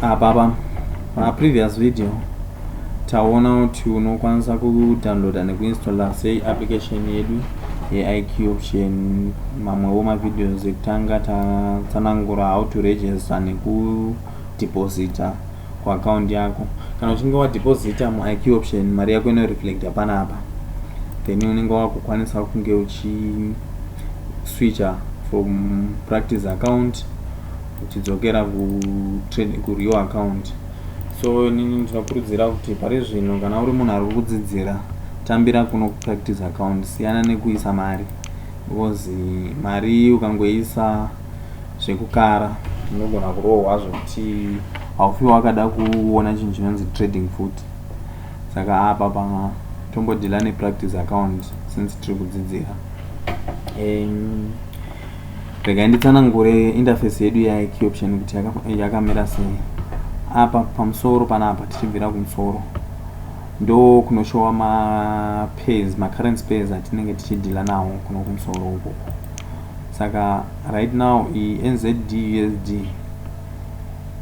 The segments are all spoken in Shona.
apa apa pa previous video taona kuti unokwanisa kudownloada nekuinstalla sei application yedu yeiq option mamwewo mavideos ekutanga tatsanangura how to register nekudeposita kuaccoundi yako kana uchinge wadeposita muiq option mari yako inoreflecta panapa then unenge wakukwanisa kunge uchiswitcha from practice account tichidzokera kureal account so inini ndinokurudzira kuti pari zvino kana uri munhu ari kukudzidzira tambira kuno kupractice account siyana nekuisa mari because mari ukangoisa zvekukara unogona kurohwa zvekuti haufi wakada kuona chinhu chinonzi trading futi saka apa pa tombodhila nepractice account since tiri kudzidzira um, regai nditsanangure interface yedu yeicoption kuti yakamira sei apa pamusoro panapa tichibvira kumusoro ndo kunoshowa mapairs macurrent pairs atinenge tichidhila nawo kuno kumusoro uko saka right now iyi nzd usd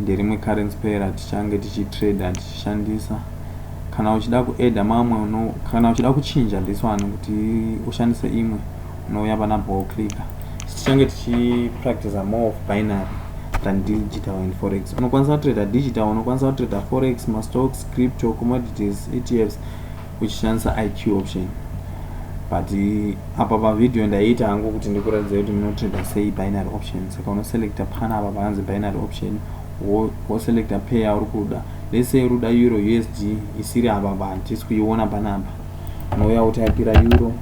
nderimwe current pair atichange tichitrader tichishandisa kana uchida kueda mamwe kana uchida kuchinja this one kuti ushandise imwe Unouya pana ball clicker. Tichange tichipracticer more of binary than digital and forex. Unokwanisa kutrader digital, unokwanisa kutrader forex, mastocks, crypto, commodities, ETFs uchishandisa IQ option. But eh, apa pa video ndaiita hangu kuti ndikuratidza kuti munotrader sei binary option. Saka unoselecta pana apa panzi binary option woselecta pair uri kuda. Let's say uri kuda euro USD isiri apa pa, tisi kuiona panapa. unouya wotaipira euro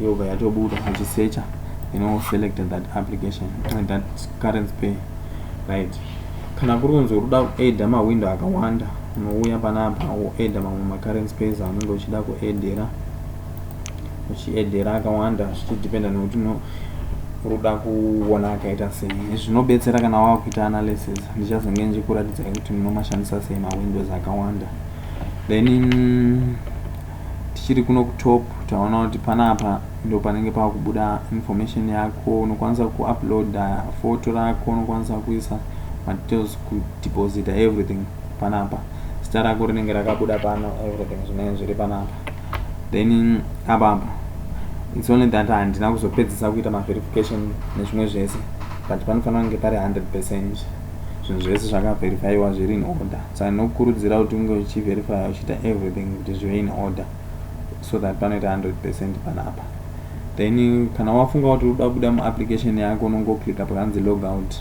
yobva yatobuda uchisecha you know select that application uh, that current pay right kana kuri kunzi urikuda kuaida mawindow akawanda unouya panapa woaida mamwe macurrent pays aunenge uchida kuaidera uchiaidera akawanda zvichidependa nekuti no ruda kuona akaita sei zvinobetsera kana wakuita analysis ndichazonge ndichikuratidzai kuti munomashandisa sei mawindows akawanda then tichiri kuno kutop taona kuti panapa ndo panenge pava kubuda information yako unokwanisa kuuploada foto rako unokwanisa kuisa madetails kudeposita everything panapa zita rako rinenge rakabuda pano everything zvinenge zviri panapa then apapa its only that handina kuzopedzisa kuita maverification nezvimwe zvese but panofanira kunge pari 100 percent zvinhu zvese zvakavherifaiwa zviri in order so ndinokurudzira kuti unge uchiverifya uchiita everything kuti zvive in order so that panoita 100 percent panapa then kana wafunga kuti uda kubuda muapplication yako unongoclicka pakanzi logout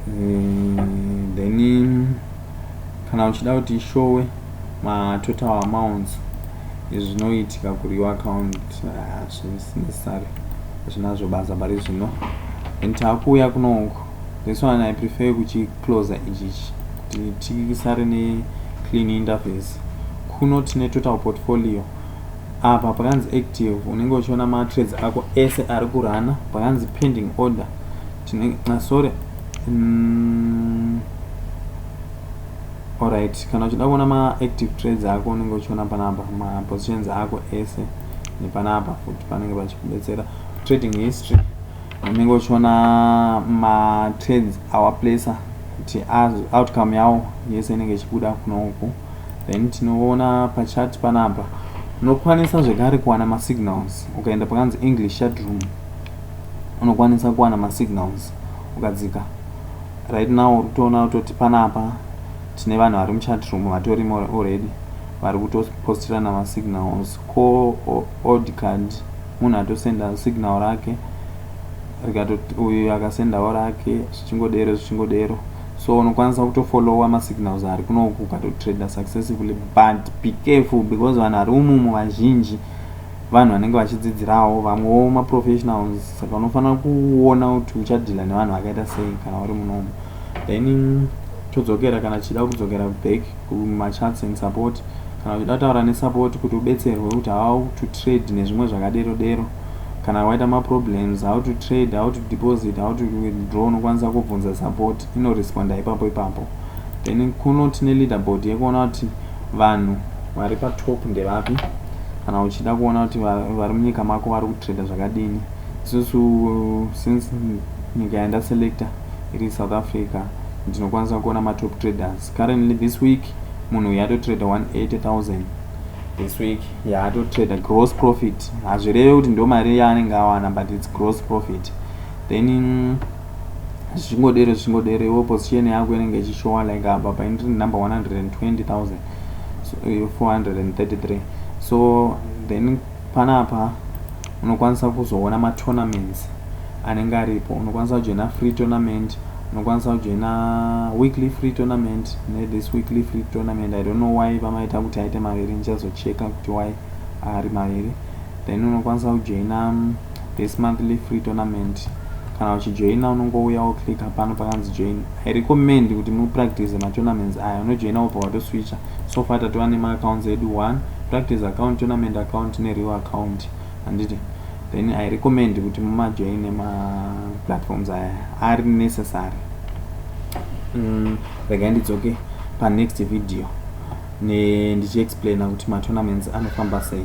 eh, then kana uchida kuti ishowe matotal amounts zvinoitika kuri your account hazvisinecessary ah, zvinazvo basa pari zvino and takuuya kunouku this one i prefer kuchicloser ichichi kuti tisare neclean interface kuno tine total portfolio apa pakanzi active unenge uchiona matrades ako ese ari kurana pakanzi pending order Tine ah, sorry. Mm. Alright, kana uchida kuona ma active trades ako unenge uchiona panapa ma positions ako ese nepanapa futi panenge pachikubetsera trading history unenge uchiona ma trades our placer kuti outcome yawo yese inenge ichibuda kuno uku then tinoona pachat panapa unokwanisa zvekare kuwana masignals ukaenda pakanzi english chat room unokwanisa kuwana masignals ukadzika right now uri kutoona kutoti panapa tine vanhu vari muchat room vatorimo already vari kutopostirana masignals ko old card munhu atosenda signal rake rikatoti uyu akasendawo rake zvichingodero zvichingodero so unokwanisa kutofollowa masignals ari kunoku ukatotrader successively but be careful because vanhu vari umumu vazhinji vanhu vanenge vachidzidzirawo vamwewo maprofessionals saka unofanira kuona kuti uchadhila nevanhu vakaita sei kana uri munomu then todzokera kana tichida kudzokera back kumachats and support kana uchida kutaura nesupport kuti ubetserwe kuti how to trade nezvimwe zvakadero dero kana waita maproblems how to trade how to deposit how to withdraw unokwanisa kubvunza support inoresponda ipapo ipapo then kuno tine leaderboard yekuona kuti Vanhu vari pa top ndevapi kana uchida kuona kuti vari munyika mako vari kutrader zvakadini. Isusu since nyika yanda selector iri South Africa ndinokwanisa kuona ma top traders. Currently this week munhu uyu atotrader 180,000 this week yaatotrader yeah, gross profit. Hazvireve kuti ndo mari yaanenge awana but it's gross profit. Then zvichingodero zvichingodero iwe position yako inenge ichishowa like apa paindiri number 120433 so then panapa unokwanisa kuzoona matournaments anenge aripo unokwanisa kujoina free tournament unokwanisa kujoina weekly free tournament nethis weekly free tournament i don't know why vamaita kuti aite maviri ndichazocheka kuti why ari maviri then unokwanisa kujoina this monthly free tournament kana uchijoina unongouya woclicka pano pakanzi join i recommend kuti mupractice matournaments aya unojoina wobva watoswicha so far tatova nemaaccounts edu one practice account tournament account nereal account handiti then i recommend kuti mumajoin nemaplatforms aya ari necessary mm, regai ndidzoke panext video ndichiexplaina kuti matournaments anofamba sei